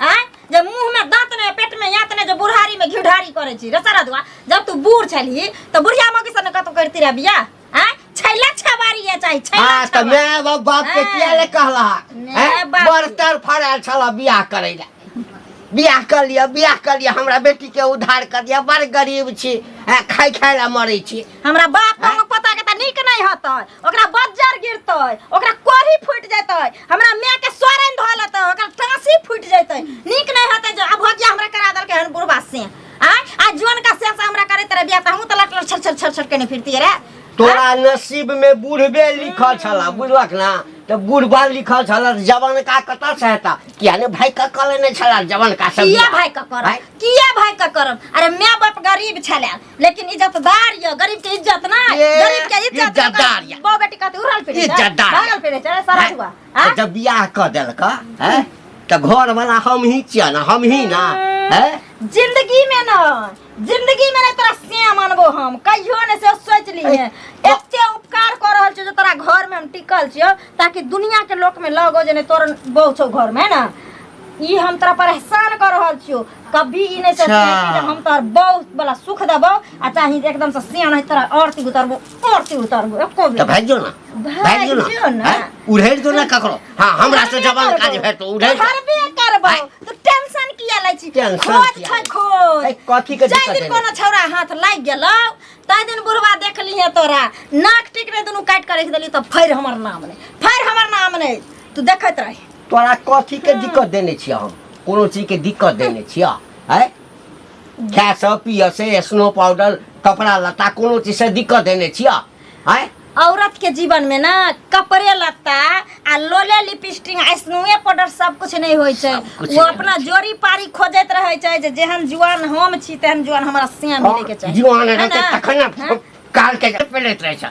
आय जे मुंह में दांत ने पेट में यात ने जे बुढ़ारी में घिढ़ारी करे छी रसरा दुआ जब तू बूढ़ छलही तो बुढ़िया मौगी सन कतो करती रह बिया आय छैला छबारी या चाही छैला हाँ तो छबारी मैं बाप बाप के हाँ। किया ले कहला मैं हैं? बाप- बर्तन फड़ायल छला बियाह करे ला बियाह कर लिया बियाह कर लिया हमरा बेटी के उद्धार कर दिया बड़ गरीब छी हैं, खाय खाय ला मरे छी हमरा बाप को पता के त नीक नहीं हतै ओकरा बज्जर गिरतै ओकरा कोढ़ी फूट जतै हमरा माय के सोरन धो लेतै ओकरा टांसी फूट जतै नीक नहीं हतै जो अब भजिया हमरा करा दल के हन बुढ़वा से आ आ जोन का से हमरा करे तेरे बियाह त हम त लट लट छर छर छर छर के नहीं फिरती रे तोरा नसीब में बूढ़बे लिखल छला बुझलक ना तो बूढ़बा लिखल छला त जवान का कतऽ से हेता किया ने भाई का कले ने छला जवान का सब किया भाई का करम भाई? किया भाई का करम अरे माय बाप गरीब छले लेकिन इज्जत दार यो गरीब के इज्जत ना ये, गरीब के इज्जत इज्जतदार या। बो बेटी कहते उड़ल पे इज्जतदार। भागल पे चले सारा हुआ हैं? हैं? जब बियाह कर देलक हैं तो घर वाला हम ही छिया ना हम ही ना हैं जिंदगी में ना जिंदगी में ना तोरा से मानबो हम कहियो ने से सोच ली है एते उपकार कर रहल छियो जे तोरा घर में हम टिकल छियो ताकि दुनिया के लोक में लगो जे ने तोर बहु छौ घर में ना ई हम तोरा परेशान कर रहल छियो कभी ई नहीं सोचते अच्छा। कि जे हम तोहर बहू वाला सुख देबो आ चाहे एकदम से सियान है तोरा औरती उतरबो औरती उतरबो एको तो बेर भाग जो ना भाग भाग जो जो ना ना। हैं? उड़ेल जो ना ककरो हाँ हमरा से जवान काज है तो उड़ेल जो। हरबे करबो तू टेंशन किया लै छी टेंशन खोज किया छै लै छी? खोज ए, कथी के जाहि दिक्कत दिन है? कोनो छौरा हाथ लागि गेलौ ताहि दिन बुढ़वा देखली है तोरा नाक टिक रे दुनू काटि के राखि देली तऽ फैर हमर नाम नहि फैर हमर नाम नहि तू देखैत रही तोरा कथी के दिक्कत देने छियै हम कोनो चीजके दिक्कत देने छियै है खाएसँ पियसँ स्नो पाउडर कपड़ा लत्ता कोनो चीजसँ दिक्कत देने छियै है औरत के जीवन में ना कपड़े लत्ता आ लोले लिपस्टिक आ स्नोए पाउडर सब कुछ नहीं होय छै कुछ वो नहीं अपना जोड़ी पारी खोजैत रहे छै जे जेहन जुआन हम छी तेहन जुआन हमरा से मिले के चाही जीवन है रहतै ना? तखन ने हाँ? कालके पेलैत रहै छै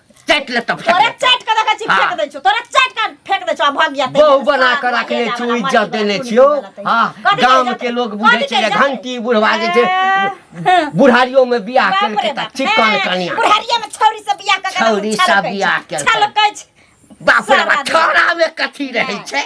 चैट ले तब तोरे चैट के देखै छी हाँ। फेंक दै छौ तोरे चैट के फेंक दै छौ आ भाग जाते बहु बना के रखले छौ इज्जत देने छियो हां गांव के लोग बुझे छै घंटी बुढ़वा जे छै बुढ़ारियो में बियाह केल के त चिकन कनिया बुढ़ारिया में छौरी से बियाह के छौरी से बियाह केल छलकै बाप रे छोरा में कथी रहै छै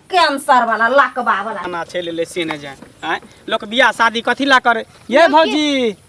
कैंसर वाला लकवा वाला ना छै ले ले से ने जाए आय लोक बियाह शादी कथी ला करे ये भौजी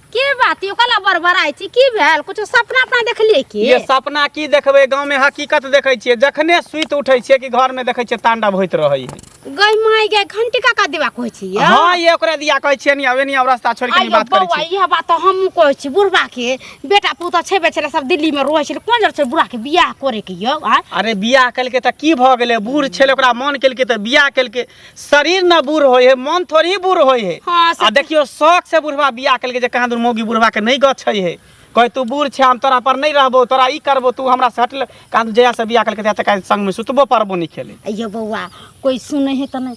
के बात यो कला बरबराई छी की भेल कुछ सपना अपना देखलिए की ये सपना की देखबे गांव में हकीकत देखै छियै जखने सुइत उठै छियै कि घर में देखै छियै तांडव होइत रहै है गई माई गई घंटी का का देवा कहै छी हां ये ओकरा दिया कहै छियै नि आवे नि आव रास्ता छोड़ के बात करै छी यह बात हम कहै छी बुढ़बा के बेटा पुत छेबे छलै सब दिल्ली में रहै छलै कोन जर छै बुढ़ा के बियाह करे के यौ आ अरे बियाह केलकै तऽ की भऽ गेलै बूढ़ छलै ओकरा मन केलकै तऽ बियाह केलकै शरीर न बूढ़ होइ है मन थोड़ी बूढ़ होइ है हाँ, से आ देखियो शौक से बुढ़वा बियाह केलकै जे कहाँ दूर मौगी बुढ़वा के नहीं गछै है कहे तू बूढ़ छै हम तोरा पर नहीं रहबो तोरा ई करबो तू हमरा से हटल कहाँ दूर जहिया से बियाह केलकै तहिया तक आइ संग में सुतबो पड़बो नहीं खेले यौ बौआ कोई सुनै है तऽ नहि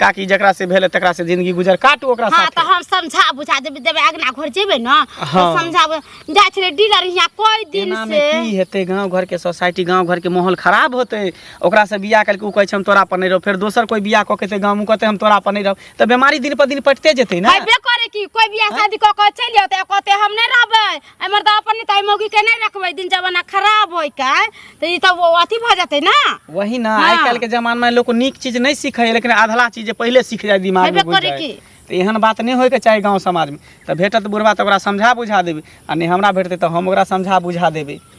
काकी जकरा से भेल तकरा से जिंदगी गुजर काटू ओकरा हाँ साथ तो हम समझा बुझा देबे देबे अगना घर जेबे ना तो हाँ। समझा बुझा- जाय छले डीलर यहाँ कोई दिन एना में से की हेतै गांव घर के सोसाइटी गांव घर के माहौल खराब होतै ओकरा से बियाह करके उ कहै छै हम तोरा पर नहीं रहो फेर दोसर कोई बियाह कऽ के ते गांव कहते हम तोरा पर नहीं रहो तऽ बीमारी दिन पर दिन पटते जेतै ने हइबे करे की कोई बियाह शादी क के चल जाते कहते हम नहीं रहबे आ मर्दा अपन ताई मौगी के नहीं रखबे दिन जमाना खराब होई का तो ई तो वो अथी भ जाते ना वही ना हाँ। आइ काल्हि के जमाना में लोग को नीक चीज नहीं सीखे है लेकिन आधला चीज जे पहले सीख जाए दिमाग में हेबे घुस करे जाए की। तो एहन बात नहीं होयके चाही गांव समाज में तो भेटत बुढ़वा तो ओकरा समझा बुझा देबे आ नहीं हमरा भेटते तो हम ओकरा समझा बुझा देबे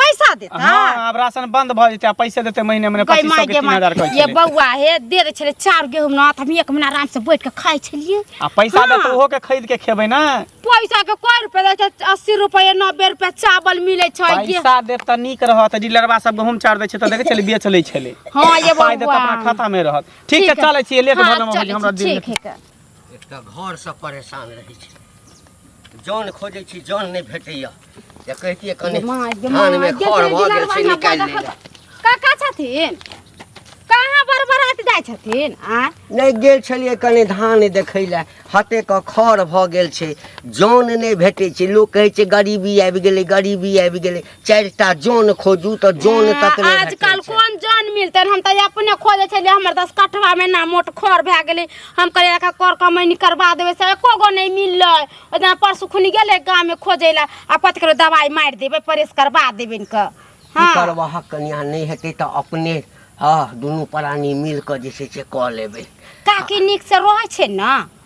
पैसा देता हाँ आब राशन बंद भ जेतै आ पैसे देतै महीने महीने गई पच्चीस माय सौ के गे तीन माय हजार कहै ये छलै बौआ हे दे दे छले चार गेहूं ना त हम एक महीना आराम से बैठ के खाई छलिए आ पैसा हाँ। देतै ओहो के खरीद के खेबै ना पैसा के कोई रुपया दे छै अस्सी रुपया नब्बे रुपया चावल मिले छै ये पैसा देत त नीक रहत डीलरवा सब गहूम चार दै छै त देखै छलै बेच लै छलै हाँ ये पाइ देत बौआ अपना खाता मे रहत ठीक छै चलै छियै लेट हाँ, भऽ गेल चलै हमरा छी, दिन ठीक है एकटा घरसँ परेशान रहै छी जान खोजै छी जान नहि भेटैया जे कहितियै कनि माय गे माय धानमे गे खर भऽ गेल छै निकालि लै लए। काका छथिन कहाँ बरबरात जाइ छथिन आ नहि गेल छलियै कनि धान देखै लए हते के खर भऽ गेल छै जान नहि भेटै छै लोक कहै छै गरीबी आबि गेलै गरीबी आबि गेलै चारिटा जन खोजू तऽ जन तक नहि आजकल भेटै छै। कोन जन मिलते हम तऽ अपने खोजे छलियै हमर दस कठवा में ना मोट खर भए गेलै हम कहलियै एकरा कर कमैनी करबा देबै से एको गो नहि मिललै ओहि दिना परसू खुनी गेलै गाममे खोजै लए आ कथी कहलकै दवाइ मारि देबै परेश करबा देबै इनके की करब अहाँ कनिया नहि हेतै तऽ अपने हँ दुनू प्राणी मिल कऽ जे छै से कऽ लेबै काकी नीक से रहै छै ने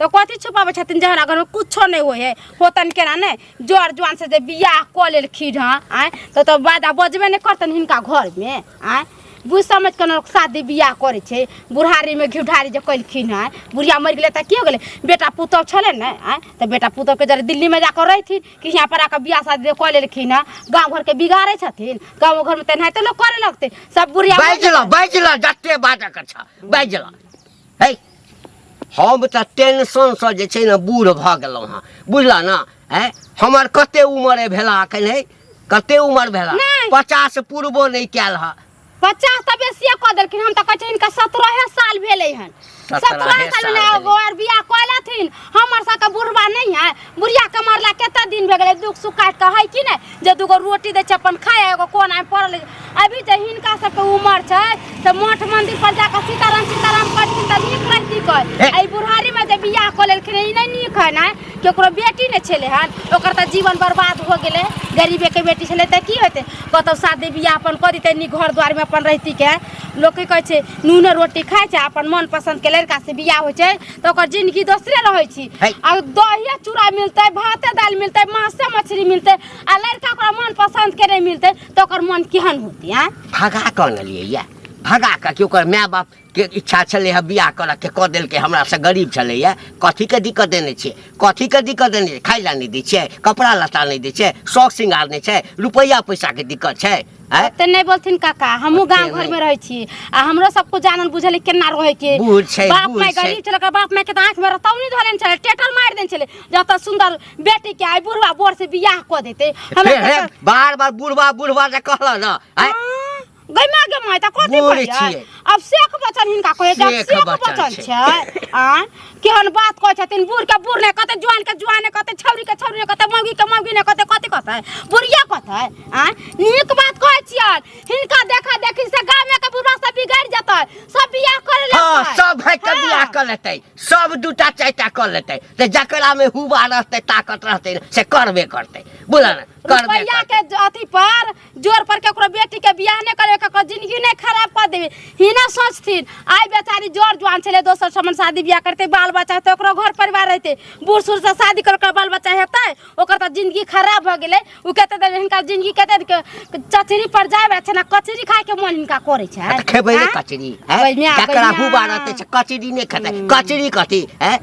तो कथी छुपाबे छथिन जहन अगर कुछो नहीं होय है होतन केना ने जोर जुआन से जे बियाह क लेलखिन हँ आय तो तो बादा बजबे नहीं करतन हिनका घर में आय बुझ समझ के लोग शादी बियाह करे छे बुढ़ारी में घिउठारी जे कलखिन हँ बुढ़िया मर गेले त की हो गेले बेटा पुतोह छले ने आय तो बेटा पुतोह के जरे दिल्ली में जाकर रहथिन कि यहाँ पर आकर बियाह शादी जे क लेलखिन हँ गाँव घर के बिगाड़े छथिन गाँव घर में तेनाहिते लोग करे लगते सब बुढ़िया मर बाजि गेलै। ल बाजि ल जते बाजऽ के छ बाजि ल है हम तऽ टेंशनसँ जे छै ने बूढ़ भऽ गेलहुँ हँ बुझलह ने आँय हमर कते उमर भेला एखन है कते उमर भेला नहि। पचास पूरबो नहि कयल हँ पचास तऽ बेसिए कऽ देलखिन हम तऽ कहै छियै हिनका सत्रहे साल भेलै हन सत्रहे सत्रहे साल साल भेलै। ओ आर बियाह कऽ लेथिन हमर सबके बुढ़बा नहि है बुढ़िया के मरला कते दिन भए गेलै दुख सुख काटि कऽ है कि नहि जे दूगो रोटी दै छै अपन खाय एगो कोन आइ पड़ल अछि। अभी जे हिनका सबके उमर छै तऽ मठ मंदिर पर जाकऽ सीताराम सीताराम करथिन तऽ नीक लगती कह ए। एहि बुढ़ारी मे जे बियाह कऽ लेलखिन ई नहि नीक है ने केकरो बेटी नहि छलै हन ओकर तऽ जीवन बर्बाद हो गेलै गरीबे के बेटी छलै तऽ की होतै कतौ शादी बियाह अपन कऽ दितै नीक घर दुआर मे अपन रहिती के लोक की कहै छै नूने रोटी खाइ छै अपन मन पसन्द के लड़का से बियाह होइ छै तो ओकर जिंदगी दोसरे रहै छी है। आ दहिया चूड़ा मिलतै भाते दालि मिलतै मासे मछली मिलतै आ लड़का ओकरा मन पसन्द के नहि मिलतै तऽ ओकर मन केहन होतै आँय भगा कऽ अनलियै यए भगा कऽ कि ओकर माय बाप के इच्छा छलै हँ बियाह करऽ के कऽ देलकै हमरा से गरीब छलै हँ कथी के दिक्कत देने छियै कथी के दिक्कत देने छियै खाय लए नहि दै छियै कपड़ा लत्ता नहि दै छियै शौक श्रृंगार नहि छै रुपैआ पैसा के दिक्कत छै आय ओते नहीं बोलथिन काका हमहू ओते गांव घर नहीं। में रहे छी आ हमरो सब कुछ जानल बुझल केना रहे के बूढ़ छै, बाप बूढ़ माय छै। गरीब छले ओकर बाप माय के आंख में रतौ नहीं धरे छले टेटल मार देन छले जत सुंदर बेटी के आई बुढ़वा बोर से बियाह क देते हमरा हे, हे, टेटल- बार बार बुढ़वा बुढ़वा जे कहला ना आय हाँ, गैमा गैमा त कथी बूढ़ करियै छियै। अब शेख बचन हिनका कहै छै शेख शेख बचन बचन छै। छै आ केहन बात कहै छथिन बूढ़ के बूढ़ ने कहते जुआन के जुआन ने कहते छौरी के छौरी ने कहते मौगी के मौगी ने कहते कथी कहते बुढ़िया कहते आ नीक बात कहै छियन हिनका देखा देखी से गाँव में के बुढ़ा सब बिगड़ जतै सब बियाह कर ले हाँ सब है के बियाह कर लेते सब दूटा चारिटा कर लेते ते जकरा में हुआ रहते ताकत रहते से करबे करते बोला ना करबे रुपैया करते के अथी पर जोर पर ककरो बेटी के बियाह नहीं करे ककरो जिंदगी नहीं खराब कर देवे ही ना सोचथिन आई बेचारी जोर जुआन छले दोसर समन शादी बियाह करते बाल बच्चा तो ओकरो घर परिवार रहते बूढ़ सूढ़ से शादी कर ओकर बाल बच्चा हेतै ओकर तो जिंदगी खराब भ गेलै उ कते देर हिनका जिंदगी कते देर के चचरी पर जाय छै ना कचरी खाय के मन हिनका करे छै खेबै ने आँय? कचरी हैं? बैनिया, जकरा बैनिया। हुबा रहतै से कचरी नहि खेतै कचरी कथी हैं?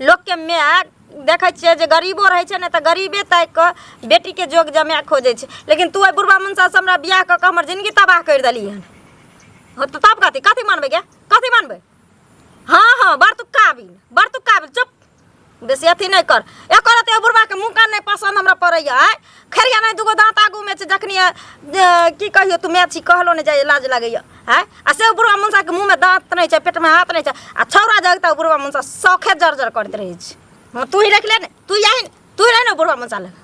लोकके माय देखै छियै जे गरीबो रहै छै ने तऽ गरीबे ताकि कऽ बेटीके जोग जमाय खोजै छै लेकिन तू एहि बुढ़बा मनसासँ हमरा बियाह कऽ कऽ हमर जिनगी तबाह करि देली हन हँ तऽ तब कथी कथी मानबै गे कथी मानबै हँ हँ बड़ तू काबिल बड़ तू काबिल चुप बेसी अथी नहि कर एकर रति बुढ़बाके मुँह कान नहि पसन्द हमरा पड़ैया आँय खरिया नहीं दूगो दांत आगू में छै जखनी अ, की कहियो तू मैची कहलो नहीं जाय लाज लगैया हैं आ से बुढ़वा मुंसा के मुंह में दांत नहीं छै पेट में हाथ नहीं छै आ छौरा जगता बुढ़वा मुंसा सौखे जर्जर करत रहै छै हां तू ही रख ले ने तू यही ने, तू रह ने बुढ़वा मुंसा लग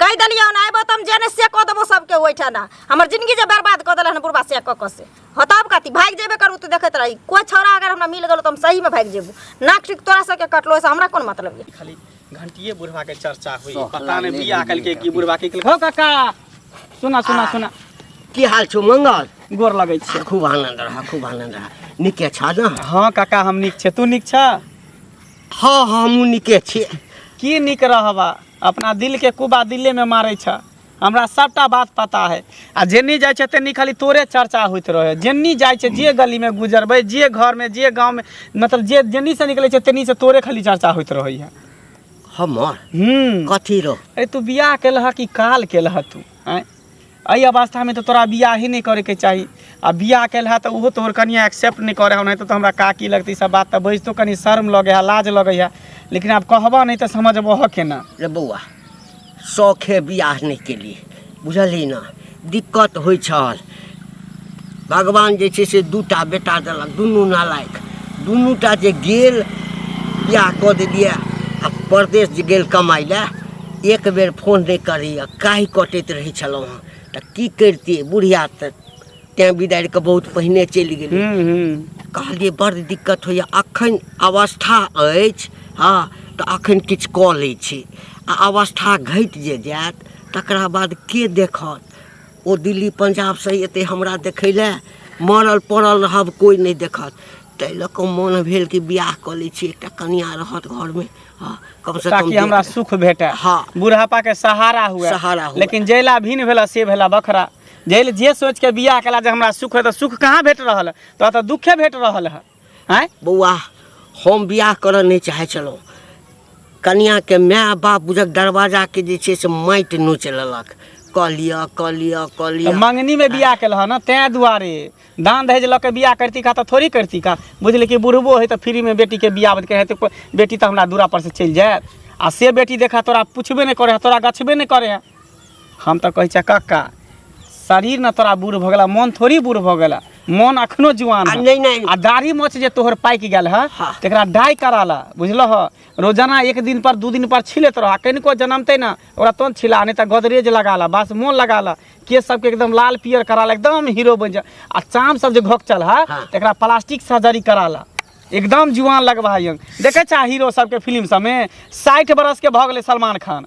कहि देलियै हन आइबो तऽ हम जेने से कऽ देबो सबके ओहिठाम ना हमर जिंदगी जे बर्बाद कऽ देलहन बुढ़बा से कऽ कऽ से हँ तब कथी भागि जेबे करू तू देखैत रही कोइ छौड़ा अगर हमरा मिल गेलो तऽ हम सहीमे भागि जेबू नाक ठीक तोरा सबके कटलो से हमरा कोन मतलब यऽ खाली घंटिए बुढ़वा के चर्चा हुई सोख पता नहीं लागले बिया घंटी कलके के। की बुढ़वा की कलके हो काका सुना सुना सुना की हाल छौ मंगल गोर लगै छै खूब आनंद रह खूब आनंद रह निके छ न हाँ काका हम नीक छै तू नीक छ हाँ हमहूँ निके छी की नीक रहबा अपना दिल के कुबा दिले में मारै छ हमरा सबटा बात पता है आ जेनी जाइ छै तेनी खाली तोरे चर्चा होइत रहे जेनी जाइ छै जे गली में गुजरबै जे घर में जे गांव में मतलब जे जेनी से निकले छै तेनी से तोरे खाली चर्चा होइत रहे है हमर हम्म कथी रो अरे तू बियाह केलह कि काल केलह तू आँय एहि अवस्थामे तऽ तोरा बियाह ही नहि करैके चाही आ बियाह केलह तऽ ओहो तोहर कनिया एक्सेप्ट नहि करे हौ नहि तऽ हमरा काकी लगतै सब बात तऽ बजितो कनि शर्म लगे है लाज लगे है लेकिन आब कहबह नहि तऽ समझबह केना रे बौआ शौखे बियाह नहि केलिए बुझलिए ने दिक्कत होइ छल भगवान जे छै से दूटा बेटा देलक दुनू नालायक दुनूटा जे गेल बियाह कऽ देलिए आ परदेश जे गेल कमाइ लए एक बेर फोन नहि करैए काहि कटैत रहै छलहुँ हँ तऽ की करितिए बुढ़िया तऽ तैँ बिदारि कऽ बहुत पहिने चलि गेलै हूँ हूँ कहलियै बड़ दिक्कत होइए अखन अवस्था अछि हँ तऽ अखन किछु कऽ लै छी आ अवस्था घटि जे जायत तकरा बाद के देखत ओ दिल्ली पंजाबसँ एतै हमरा देखै लए मरल पड़ल रहब कोइ नहि देखत ताहि लऽ कऽ मोन भेल कि बियाह कऽ लै छी एकटा कनिया रहत घरमे हँ कमसँ कम ताकि देख- हमरा सुख भेटै हँ। बुढ़ापा के सहारा हुए सहारा हुए। लेकिन जैला भिन्न भेला से भेला बखरा जैल जे सोच के बियाह कला जे हमरा सुख है तो सुख कहाँ भेट रहल है तो तो दुखे भेट रहल है हैं बौआ हम बियाह करऽ नहि चाहै छलहुँ कनियाके माय बाप बुझक दरवाजाके जे छै से माटि नोचि लेलक कऽ लिअ कऽ लिअ कऽ तो लिअ मंगनी में बियाह कल है ना तै दुआरे दान दहेज लऽ के बियाह करती का तो थोड़ी करती का बुझल कि बुढ़बो है तो फ्री में बेटी के बियाह बद कहे तो बेटी तो हमरा दूरा पर से चल जाए आ से बेटी देखा तोरा पूछबे नहीं करे है तोरा गछबे नहीं करे है हम तऽ कहै छियै कक्का शरीर ने तोरा बूढ़ भऽ गेला मन थोड़ी बूढ़ भऽ गेला मन अखनो जुआन आ है। नहीं नहीं आ दाढ़ी मोछ जे तोहर पाकि गेल है हाँ। तेकरा डाई करा ला बुझलह रोजाना एक दिन पर दू दिन पर छिलैत रह कनिको जनमते ना ओकरा तोन छिला नहीं तऽ गोदरेज लगा ला बस मोन लगा ला केस सबके एकदम लाल पियर करा ला एकदम हीरो बन जा आ चाम सब जे घोकचल है हाँ। तेकरा प्लास्टिक सर्जरी करा ला एकदम जुआन लगबा है देखे छा हीरो सबके फिल्म सबमे साठि बरस के भऽ गेलै सलमान खान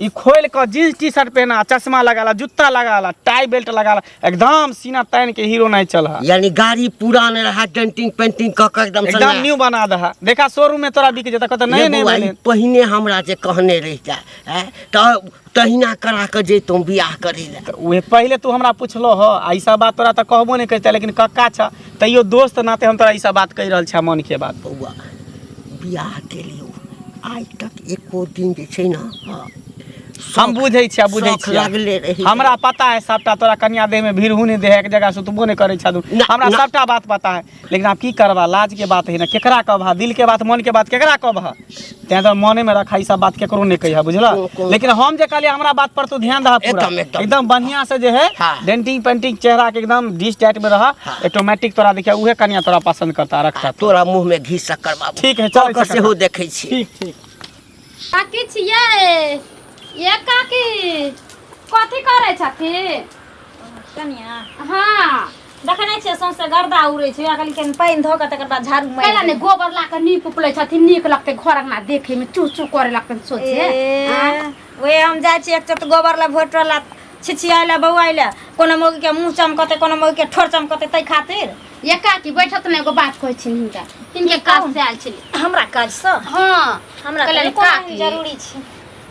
ई खोल कऽ जींस टी शर्ट पहना चश्मा लगा ला जूता लगा ला टाई बेल्ट लगा ला एकदम सीना तान के हीरो नहीं चल हा यानी गाड़ी पुरान रहा डेंटिंग पेंटिंग क के एकदम एकदम सना- न्यू बना दहा देखा शोरूम में तोरा बिक जता कहता नहीं ये नहीं बौआ, ई बोले पहिने हमरा जे कहने रहि जाय हैं, त तहिना करा के जैतहुँ बियाह करै लए तऽ उहे पहिले तू हमरा पुछलो ह आ ई सब बात तोरा तऽ कहबो नहि करते लेकिन कक्का छ तैयो दोस्त नाते हम तोरा ई सब बात कहि रहल छा मन के बात बौआ बियाह केलियौ आइ तक एको दिन जे छै ने हँ, हम बुझै छियै बुझै शौक लागले छियै रहैए। हमरा पता है सबटा तोरा कन्या देह में भीड़ हुने देह है, एक जगह सुतबो नहीं करे छदू ना, हमरा ना। सबटा बात पता है लेकिन आब की करबा लाज के बात है ना केकरा कहबा दिल के बात मन के बात केकरा कहबा तें तो मने में रखा ई सब बात केकरो नहीं कहिया बुझला को- को- लेकिन हम जे कहलिए हमरा बात पर तू ध्यान दहा पूरा एकदम, एकदम। एकदम बढ़िया से जे है हाँ। डेंटिंग पेंटिंग चेहरा के एकदम डिश टाइट में रहा ऑटोमेटिक तोरा देखिया उहे कनिया तोरा पसंद करता रखता तोरा मुंह में घी शक्कर बाबू ठीक है चल कर सेहो देखै छी ठीक ठीक काकी छियै ये काकी कथी करै छथि कनिया हाँ देखै नहि छियै सौंसे गर्दा उड़ै छै अखन कनि पानि धऽ कऽ तकर बाद झाड़ू मारि कैला ने गोबर ला के नीप उपलै छथि नीक लगतै घर अंगना देखे में चू चू करे लगतै सोचे ए। आँय? ओहे हम जाइ छी एक चोट गोबर लए भोट लए छिछियाय लए बौआय लए कोनो मौगी के मुंह चमकते कोनो मौगी के ठोर चमकते तै खातिर एका की बैठत ने एगो बात कहै छी हिनका हिनके काज से आयल छली हमरा काज से हां हमरा कहले का जरूरी छै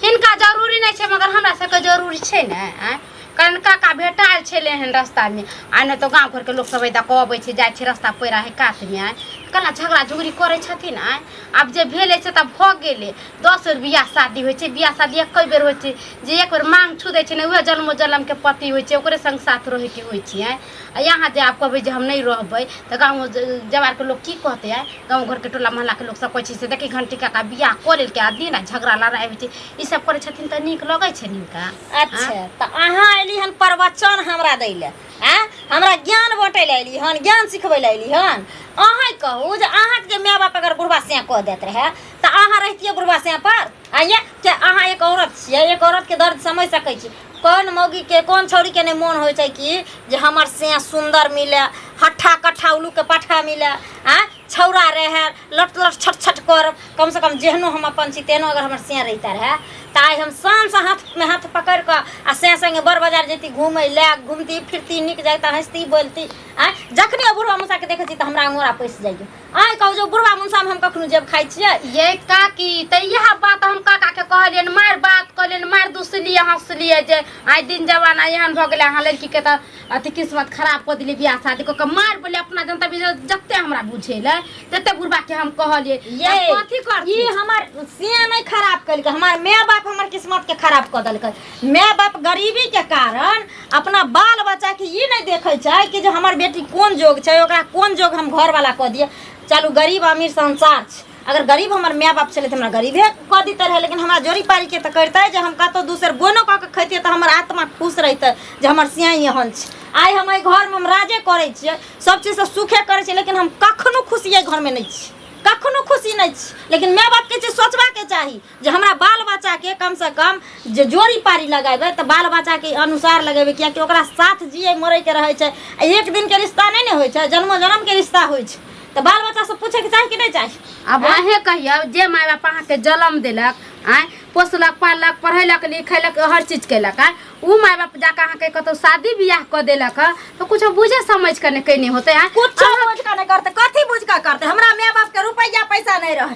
हिनका जरूरी नै छै मगर हमरा सबके जरूरी छै ने आय कारण काका भेटाल छलै हन रस्तामे आ नहि तऽ गाँव घरके लोक सब एदा कहबै छै जाइ छै रस्ता पैरा है कातमे आय कला झगड़ा झुगड़ी करै छथिन आय आब जे भेलै से तऽ भऽ गेलै दस बेर बियाह शादी होइ छै बियाह शादी एक बेर होइ छै जे एक बेर मांग छू दै छै ने उहे जन्मो जन्म के पति होइ छै ओकरे संग साथ रहे के होइ छै आय आ यहाँ जे आप कहबै जे हम नहीं रहबै तऽ गाँव जवार के लोग की कहते आय गाँव घर के टोला मोहल्ला के लोग सब कहै छै से देखी घंटी काका बियाह कऽ लेलकै आ दिन आ झगड़ा लड़ाई होइ छै ई सब करै छथिन तऽ नीक लगै छै हिनका अच्छा तऽ अहाँ अयली हन प्रवचन हमरा दै लए आ हमरा ज्ञान बाँटै लए अयली हन ज्ञान सिखबै लए अयली हन अहाँ कहू जे अहाँके जे माय बाप अगर बुढ़बा सियाँ कऽ दैत रहए तऽ अहाँ रहितियै बुढ़वा से पर आइए कि अहाँ एक औरत छियै एक औरतके दर्द समझि सकै छी कोन मौगीके कोन छौरीके नहि मोन होइ छै कि जे हमर से सुन्दर मिले हट्ठा कट्ठा उलूके पट्ठा मिले आ छौरा रहए लट लट छट छट कर कमसँ कम जेहनो हम अपन छी तेहनो अगर हमर से रहिते रहए तऽ आइ हम शानसँ हाथमे हाथ पकड़ि कऽ आ से सङ्गे बड़ बाजार जैती घूमै लए घूमती फिरती नीक जाइता हँसती बोलती आँय जखने बुढ़वा मुसाके देखै छी तऽ हमरा अंगोरा पैसि जाइए आइ कहू जो बुढ़वा मुनसामे हम कखनो जेब खाइ छियै ये काकी तऽ इएह बात हम काका के कहलियनि मारि बात कहलियनि मारि दुसलियै हंसलियै जे आइ दिन जमाना एहन भऽ गेलै अहाँ लड़की के तऽ अथी किस्मत खराब कऽ देलियै बियाह शादी कऽ के मारि बोले अपना जनता भी जते हमरा बुझेले तते बुढ़बा के हम कहलियै ये आब कथी ई करती हमर सिया नहीं खराब कलकै हमार माय बाप हमर किस्मत के खराब कऽ देलकै माय बाप गरीबी के कारण अपना बाल बच्चा के ई नहीं देखे छै कि जो हमार बेटी कोन जोग छै ओकरा कोन जोग हम घर वाला कह दिए चलू गरीब अमीर संसार छै अगर गरीब हमर माय बाप छलै तऽ हमरा गरीबे कह दिते रहे लेकिन हमरा जोड़ी पारी के तऽ करते जे हम कतौ दूसर बोनो कऽ के खैतिए तऽ हमर आत्मा खुश रहिते जे हमर सियाई एहन छै आइ हम एहि घर में हम राजे करै छियै सब चीज से सुखे करै छियै लेकिन हम कखनो खुशी एहि घर में नहि छी कखनो खुशी नहि छी लेकिन माय बाप के चीज सोचबा के चाही जे हमरा बाल बच्चाके कमसँ कम जे जोड़ी पारी लगेबै तऽ बाल बच्चाके अनुसार लगेबै किएकि ओकरा साथ जियै मरैके रहै छै आ एक दिनके रिश्ता नहि ने होइ छै जन्मो जन्मके रिश्ता होइ छै तऽ बाल बच्चासँ पूछैके चाही कि नहि चाही आब अहें कहियौ जे माय बाप अहाँके जन्म देलक आँय पोसलक पाललक पढ़ेलक लिखेलक हर चीज केलक आँय ओ माय बाप जाकऽ अहाँके कतौ शादी बियाह कऽ देलक हँ तऽ कुछो बुझे समझ कऽ ने केने होतै आँय कुछो बुझ कऽ नहि करतै कथी बुझ कऽ करतै हमरा माय बापके रुपैआ पैसा नहि रहै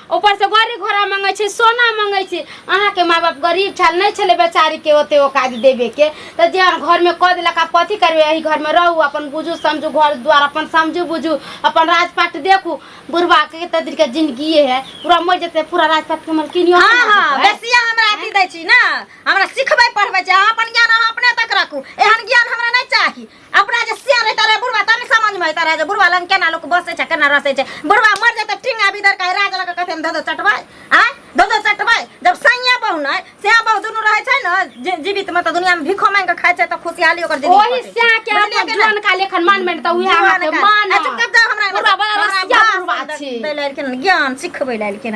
ऊपर से गाड़ी घोड़ा मंगे छै सोना मंगे छै अहाँ के माँ बाप गरीब छल नहीं छले बेचारी के ओते औकात देवे के तो जे घर में कह दिलक आप कथी करबे यही घर में रहू अपन बुझू समझू घर द्वार अपन समझू बुझू अपन राजपाट देखू बुढ़वा के तो दिन के जिंदगी है पूरा मर जते पूरा राजपाट के मलकिनियो हाँ बना हाँ देतै। बेसिया हमरा अथी दै छी ना हमरा सिखबै पढ़बै छी अहाँ अपन ज्ञान अहाँ अपने तक राखू एहन ज्ञान हमरा नहि चाही अपना जे सियान रहता रहे बुढ़वा तनी समझ में रहता रहे जे बुढ़वा लंग केना लोग बसे छै केना रसे छै बुढ़वा मर जेते टिंगा भीतर कहे राज लग कथे धदो चटबै आ धदो चटबै जब सैया बहु नै सैया बहु दुनु रहे छै न जीवित में त दुनिया में भिखो मांग के खाय छै त खुशहाली ओकर जिंदगी ओही से के अपन जन का लेखन मान में त उहे हाथ मान चुप कर हमरा बुढ़वा बड़ा रसिया बुढ़वा छी दैल के ज्ञान सिखबै लेल के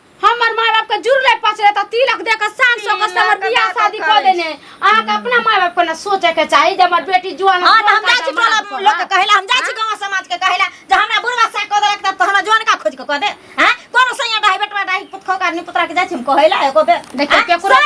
हमर माय बाप के जुड़ले पचले त तिलक दे के शान सो के हमर बियाह शादी क देने अहाँ के अपना माय बाप के ना सोचे के चाही जे हमर बेटी जुआन हां त हम जाय छी टोला लोग के कहेला हम जाय छी गांव समाज के कहेला जे हमरा बुढ़वा सा क देलक त हमरा जोन का खोज के क दे हैं कोनो सैया डाही बेटवा डाही पुतखो का नि पुतरा के जाय छी हम कहेला एको बे देखियो केकरो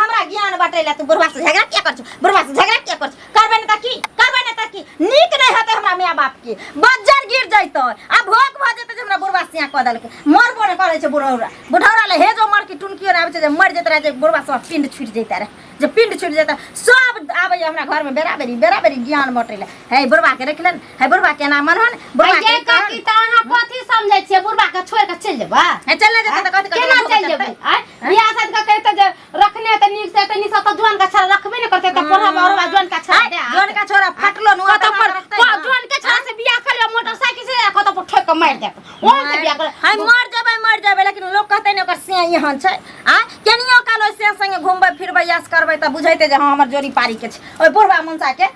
हमरा ज्ञान बाटेला तू बुढ़वा से झगड़ा किया कर बुढ़वा से झगड़ा किया कर करबै ने तऽ की करबै ने तऽ की नीक नहि हेतै हमरा माय बापके बज्जर गिर जैतै आ भोक भऽ जेतै जे हमरा बुढ़वा सियाँ कऽ देलकै मरबो नहि करै छै बुढ़ौरा बुढ़ौरा ले हे जो मरकी टुनकियो नहि आबै छै जे मरि जेतै रहै जे बुढ़वा सब पिंड छुटि जैतै रहै जे पिंड छुटि जेतै सब आबै हमरा घरमे बेरा बेरी बेरा बेरी ज्ञान बटै लए हे बुढ़वाके रखलन हे बुढ़वा केना मनहन बुढ़वा के काकी तऽ अहाँ कथी समझै छियै बुढ़वा के छोड़ के चलि जेबै हे चल नहि जेतै तऽ कथी केना चलि जेबै आँय? बियाह शादी के कहितै जे रखने त नीक से त निसा त जोन का छड़ा रखबे न करते त पढ़ा और बा जोन का छड़ा दे जोन का छोरा फटलो नु कत पर को जोन का छड़ा से बियाह कर ले मोटरसाइकिल से कत पर ठोक के मार दे ओ से बियाह कर हाय मर जाबै मर जाबै लेकिन लोग कहते न ओकर से यहन छै आ केनियो कालो से संगे घुमबै फिरबै यस करबै त बुझैते जे हां हमर जोड़ी पारी के छै ओइ बुढ़वा मुंसा के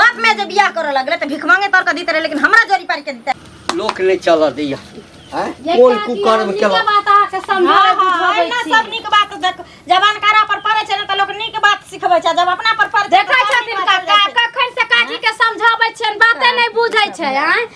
बाप में जे बियाह करे लगले त भिख मांगे तर के दीते रहे लेकिन हमरा जोरी पार के दीते लोक नहीं चल दिया हैं? ये कोल काकी, कुकर्म हमनी के के लो- बात अहाँके समझाबै बुझबै एना छी। सब नीक बात देख जबान कारा पर पड़े छै ने त लोक नीक बात सिखबै छै जब अपना पर पड़े छै देखै छथिन काका कखन से काकी के समझाबै छियनि बाते नहि बुझै छै आँय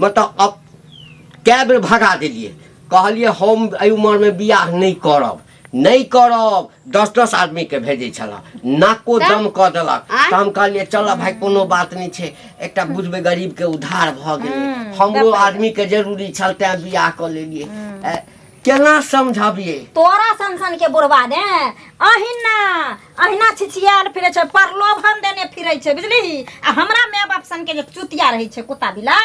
मतलब अब कए बेर भगा देलियै कहलियै हम एहि उमरमे बियाह नहि करब नहि करब दस दस आदमीके भेजै छलए नाको तऽ? दम कऽ देलक आँय? तऽ हम कहलियै चलऽ भाय कोनो बात नहि छै एकटा बुझबै गरीबके उद्धार भऽ गेलै हम्म, हमरो तब- आदमीके जरूरी छल तैँ बियाह कऽ लेलियै ए, केना समझबियै तोरा सन सन के बुढ़वा दे अहिना अहिना छिछियाल फिरे छै प्रलोभन देने फिरे छै बुझली आ हमरा माय बाप सन के जे चुतिया रहे छै कुत्ता बिला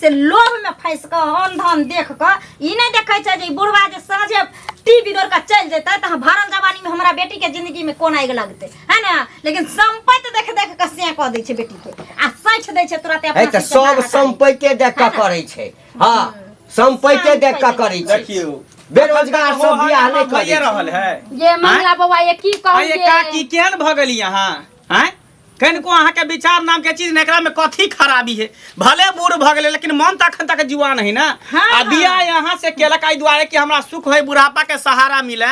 से लोभ में फंस के अन धन देख के ई नहीं देखे छै जे ई बुढ़वा जे साँझे टीवी दौड़ के चल जेते त भरल जवानी में हमरा बेटी के जिंदगी में कोना आग लगते है ना लेकिन संपत्ति देख देख के से कह दे छै बेटी के आ सच दे छै तुरंत है अपना तऽ सिर के सब बाहर हटा दै छै। सम्पैते देख कऽ करै छै हाँ संपैते देख के करै छै देखियो बेरोजगार सब मोहन बियाह मामा नहीं भइए करे रहल है ये मंगला बाबा ये की कहू अरे ये? काकी केहन भऽ गेली अहाँ आँय कनिको अहाँके विचार नाम के चीज ने एकरा में कथी खराबी है भले बूढ़ भऽ गेलै लेकिन मन तऽ अखन तक जुआन है ना हाँ, आ बियाह यहाँ से केलक एहि दुआरे कि हमरा सुख है बुढ़ापा के सहारा मिले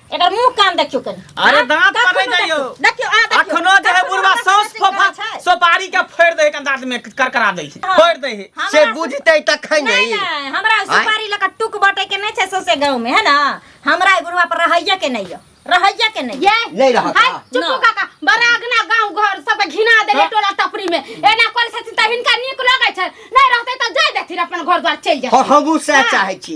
एकर मुंह कान देखियो कनी अरे हाँ, दांत पर नहीं जाइयो देखियो आ देखियो अखनो जे है बुढ़वा सौस फोफा सोपारी के फोड़ दे एकन दांत में करकरा दे हाँ। फोड़ दे से बुझते त खै नहीं हमरा सोपारी लका टुक बटे के नहीं छै सोसे गांव में है ना हमरा बुढ़वा पर रहैया के नहीं रहैया के नहीं ये नहीं रहा हाय चुप काका बरागना गांव घर सब घिना देले हाँ। टोला टपरी में एना कोल सती त हिनका नीक लगै छै नहीं रहते त जाय देथिन अपन घर द्वार चल जाय हां हमहु से चाहै छी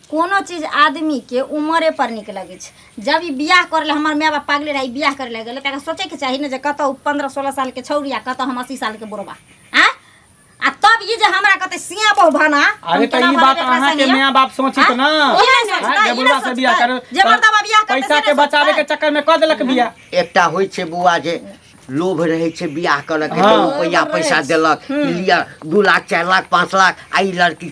कोनो चीज आदमीके उमरेपर नीक लगै छै जब ई बियाह करै लए हमर माय बाप पागले रहै बियाह करै लए गेलै तऽ सोचैके चाही ने जे कतौ पन्द्रह सोलह सालके छौरी आ कतौ हम अस्सी सालके बुढ़बा आ आ तब ई जे हमरा कहते सिया बहु भाना अरे तऽ ई बात अहाँके माय बाप सोचित ना जे बुढ़वा से बियाह करू जे मर्दवा बियाह करतै पैसा के बचावे के चक्कर में क देलक बियाह एकटा होइ छै बौआ जे लोभ रहै छै बियाह करऽ के हाँ। रुपैआ पैसा देलक लिअ दू लाख चारि लाख पाँच लाख आ ई लड़की